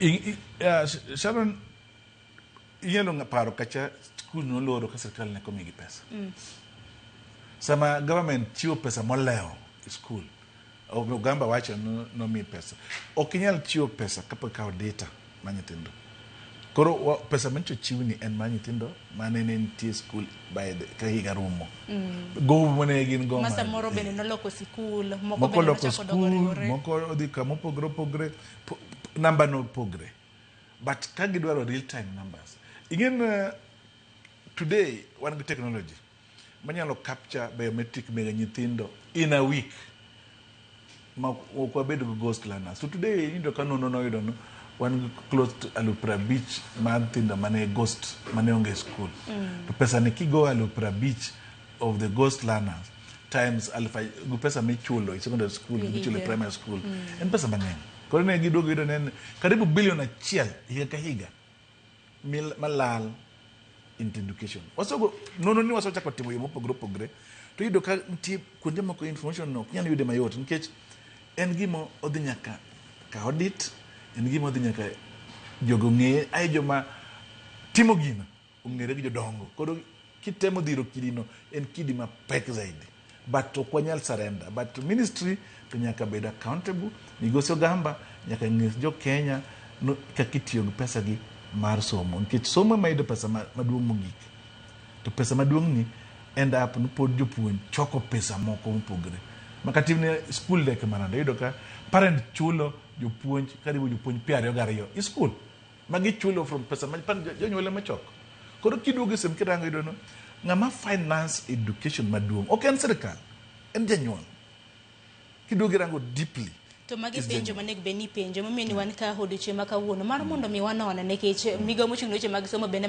I- i- ah, Sh- Sharon, inyalo nga- paro kacha skul noloro ka sirkal ne komigi pesa. Sama government chiwo pesa molewo e skul, o- Ogamba wacho no- nomi pesa. Ok inyal chiwo pesa kapok ikawo data ma nyithindo. Koro wa- pesa manyicho chiwni en ma nyithindo mane ne nitie e skul by the- ka higa rumo. Gowi mane gin go. ma man- samoro bende noloko sikul moko moko bende loko nochako dogo skul riwore moko odhi kamopogore opogore namba no pogre but ka gidwaro real time numbers ing'e na uh, today wan gi technology manyalo capture biometric mega nyithindo in a week ma ok wabed go ghost learners so today iyudo ka nono noyudo no wan gi close to alufu prabich mar nyithindo mane ghost mane onge school mm. to pesa ni kigo alufu prabich of the ghost learners times alif gi pesa michulo e secondary school gi michulo e primary school mm. en pesa mang'eny koro ne giduogo yudo ne karibu bilion achiel higa ka higa malal into education wasogo nono ni wasechako timo yo mopogore opogore to yudo ka nitie kuonde moko information no ok nyal yude mayot nikech en gima odhi nyaka ka audit en gima odhi nyaka jogo ng'eye ae joma timo gino ong'ere gi jodongo koro kitemo dhiro kidino en kidi mapek zaidi but ok wanyal surrender but to ministry to nyaka bed accountable migosi ogamba nyaka nyis jo kenya no- kaka itiyo gi pesa gi mar somo nikech somo ema yudo pesa ma- maduong' mogik to pesa maduong' ni end up ni pod jopuonj choko pesa moko mopogore makatimne skul dek manade iyudo ka parent chulo jopuonj karibu jopuonj piero ariyo gariyo i skul magi chulo from pesa ma pan jonyuol ema choko koro kiduogo e sim kirango iyudo no ng'ama finance education maduong' ok en sirkal en janyuol kiduogo irango deeply to magi Is penjo janyuol. manego bed ni penjo momiyo ni wan ka odiochieng' ma kawuono mar mondo mi wanone nikech migawo mochung' ne weche mag somo bende man